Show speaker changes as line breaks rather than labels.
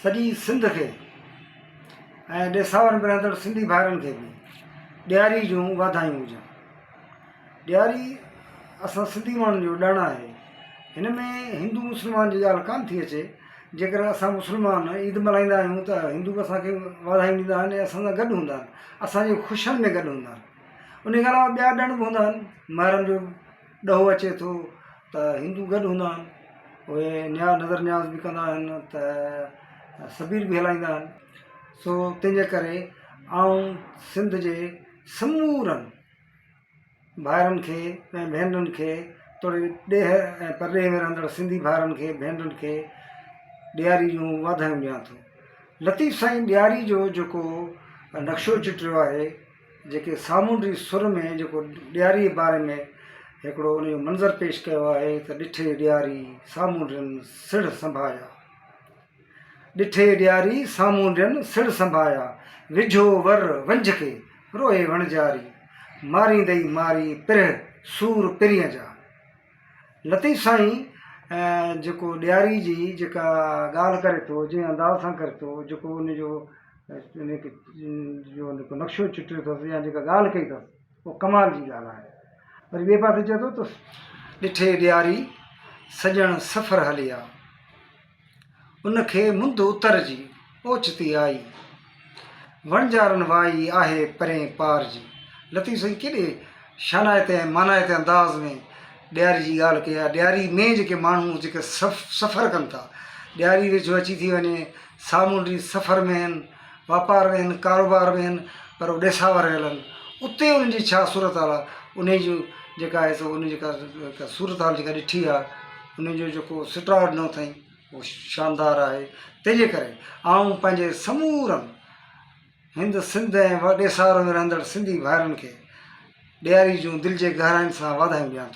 سڄي سنڌ کي ۽ ڏيساور ۾ رهندڙ سنڌي ڀائرن کي به ڏياري جون واڌايون هجن. ڏياري اسان سنڌي ماڻهن جو ڏڻ آهي. هن ۾ هندو مسلمان جي ڳالهه ڪانه ٿي اچي. جيڪڏهن اسان مسلمان عيد ملهائيندا آهيون ته هندو اسان کي واڌايون ڏيندا آهن ۽ اسان سان گڏ هوندا آهن. اسان جي خوشين ۾ گڏ هوندا آهن. ان کان علاوه ٻيا ڏڻ به هوندا آهن مهرم جو ڏهو اچي ٿو ته هندو گڏ هوندا آهن اهي نياز نظر نياز به ڪندا آهن ته سبيل به هلائيندا آهن سو تنهنجي ڪري آئون سنڌ جي سمورن ڀائرن کي ۽ ڀينرن کي توڙي ڏيهه ۽ پرڏيهه ۾ رهندڙ سنڌي ڀائرن کي ڀينرن کي ڏياري جون واڌايون ڏيان ٿو لطيف سائين ڏياري جو جيڪو نقشو چٽيو آهي جيڪي سامونڊي سر ۾ جيڪو ڏياري جي باري ۾ هڪڙو ان جو منظر پيش ڪيو آهي ته ڏٺي ڏياري سامونڊين سڙهه سنڀايا، ڏٺي ڏياري سامونڊين سڙهه سنڀايا، وجهو ور ونجهه کي روئي وڻجاري، ماريندئي ماري پرهه سور پرينء جا. لطيف سائين جيڪو ڏياري جي جيڪا ڳالهه ڪري ٿو جنهن انداز سان ڪري ٿو جيڪو ان جو جيڪو نقشو چٽيو اٿس يا جيڪا ڳالهه ڪئي اٿس او ڪمال جي ڳالهه آهي وري ٻئي پاسي چئي ٿو ته ڏٺي ڏياري سڄڻ سفر هليا ان کي منڌ اتر جي اوچتي آئي. وڻجارن وائي آهي پرين پار جي. لطيف سائين ڪيڏي شانائتي ۽ مانائتي انداز ۾ ڏياري جي ڳالهه ڪئي آهي. ڏياري ۾ جيڪي ماڻهو جيڪي سفر ڪن ٿا، ڏياري ويجهو اچي ٿي وڃي، سامونڊي سفر ۾ هن، واپار ۾ هن ڪاروبار ۾ هن پر هو ڏيساور رهيل هن اتي انهن جي ڇا صورت حال آهي انهي جو جيڪا آهي سو انهي جيڪا صورت حال جيڪا ڏٺي آهي انهي جو جيڪو سٽاء ڏنو اٿئي هو شاندار آهي تنهن جي ڪري آئون پنهنجي سمورن هند سنڌ ۽ ڏيساور ۾ رهندڙ سنڌي ڀائرن کي ڏياري جون دل جي گهراين سان واڌايون ڏيان ٿو